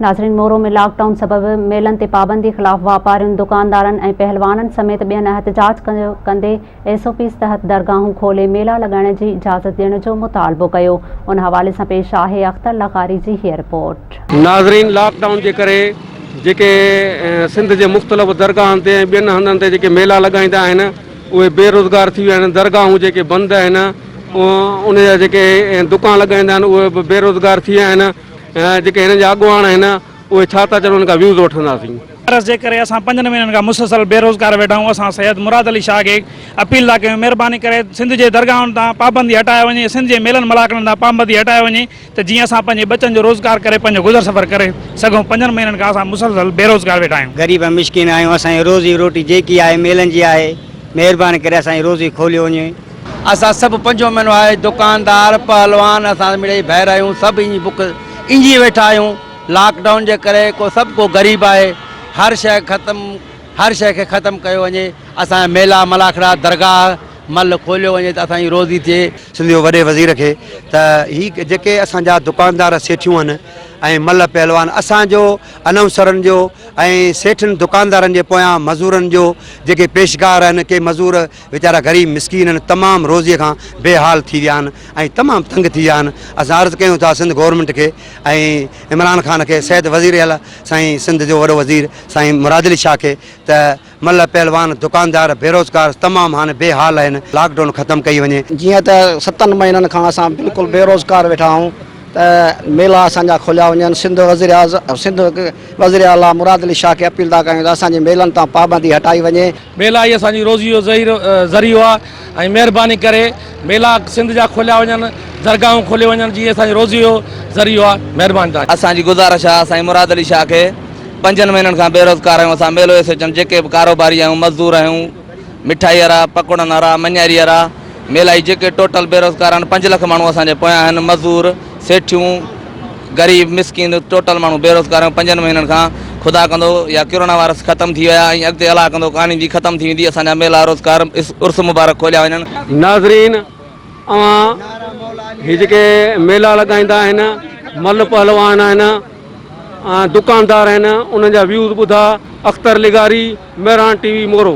ناظرين Moro ۾ lockdown سبب ميلن تي پابندي خلاف واپارين، دڪاندارن ۽ پهلوانن سميت ٻين احتجاج ڪندي ايس او پيز تحت درگاهون کولي ميلا لڳائڻ جي اجازت ڏيڻ جو مطالبو ڪيو. ان حوالي سان پيش آهي اختر لغاري جي هيء رپورٽ. ناظرين لاڪ ڊائون جي ڪري جيڪي سنڌ جي مختلف درگاهن تي ۽ ٻين هنڌن تي جيڪي ميلا لڳائيندا آهن اهي بي روزگار ٿي ويا آهن درگاهون جيڪي بند آهن ان جا جيڪي دڪان لڳائيندا آهن اهي به بي روزگار ٿي ويا آهن. جيڪي هنن جا اڳواڻ آهن اهي ڇا ٿا چون ان کان ويوز وٺنداسين. عرض جي ڪري اسان پنجن مهينن کان مسلسل بي روزگار ويٺا آهيون اسان سيد مراد علي شاهه کي اپيل ٿا ڪيون مهرباني ڪري سنڌ جي درگاهن تان پابندي هٽائي وڃي سنڌ جي ميلن ملاڪڙن تان پابندي هٽائي وڃي ته جيئن اسان پنهنجي ٻچن جو روزگار ڪري پنهنجو گذر سفر ڪري سگهون پنجن مهينن کان اسان مسلسل بي روزگار ويٺا آهيون. غريب ۽ مسڪين آهيون اسان جي روزي روٽي جيڪي آهي ميلن جي آهي مهرباني ڪري اسان جي روزي کوليو وڃي. اسان سڀ پنجون مھينو آھي دڪاندار پهلوان اسان مڙئي ڀائر آھيون سڀ اينجي بک اينجي ويٺا آھيون لاڪ ڊائون جي ڪري ڪو سڀ ڪو غريب آھي ھر شئي ختم ھر شئي کي ختم ڪيو وڃي اسان جا ميلا ملاکڙا درگاھ مھل کوليو وڃي ته اسان جي روزي ٿئي. سنڌ جي وڏي وزير کي ته ھي جيڪي اسان جا دڪاندار سيٺيون آھن ۽ ملھ پهلوان اسان جو انائونسرن جو ۽ سيٺن دڪاندارن جي پويان مزورن جو جيڪي پيشگار آھن ڪي مزور ويچارا غريب مسڪين آهن تمام روزي کان بي حال ٿي ويا آهن ۽ تمام تنگ ٿي ويا آهن اسان عرض ڪيون ٿا سنڌ گورنمينٽ کي ۽ عمران خان کي سيد وزير اعليٰ سائين سنڌ جو وڏو وزير سائين مراد علي شاهه کي ته ملهه پهلوان دڪاندار بيروزگار تمام هاڻي بي حال آهن لاڪ ڊائون ختم ڪئي وڃي. جيئن ته ستن مهينن کان اسان بلڪل بيروزگار ويٺا آهون ته ميلا اسان جا کوليا وڃن سنڌ وزير اعظم سنڌ وزير اعليٰ مراد علي شاهه کي اپيل ٿا ڪيون ته اسان جي ميلن تان پابندي هٽائي وڃي. ميلا ئي اسان جي روزي جو ذريعو آهي ۽ مهرباني ڪري ميلا سنڌ جا کوليا وڃن، درگاهون کوليون وڃن جي اسان جي روزي جو ذريعو آهي. مهرباني توهان جي. اسان جي گذارش آهي سائين مراد علي شاهه کي پنجن مهينن کان بيروزگار آهيون اسان ميلو ايسوچن جيڪي به ڪاروباري آهيون مزدور آهيون. مٺائي وارا، پڪوڙن وارا، مڃاري وارا، ميلائي جيڪي ٽوٽل بيروزگار آهن، پنج لک ماڻهو اسان جي پويان آهن، مزور، سيٺيون، غريب مسڪين ٽوٽل ماڻهو بيروزگار آهن، پنجن مهينن کان خدا ڪندو يا ڪرونا وائرس ختم ٿي ويا ۽ اڳتي الله ڪندو ڪانه جي ختم ٿي ويندي اسان جا ميلا روزگار عرس مبارڪ کوليا وڃن. ناظرين اوهان هي جيڪي ميلا لڳائيندا آهن مل پهلوان آهن ۽ دڪاندار آهن انهن جا ويوز ٻڌا اختر لغاري مهراڻ ٽي وي مورو.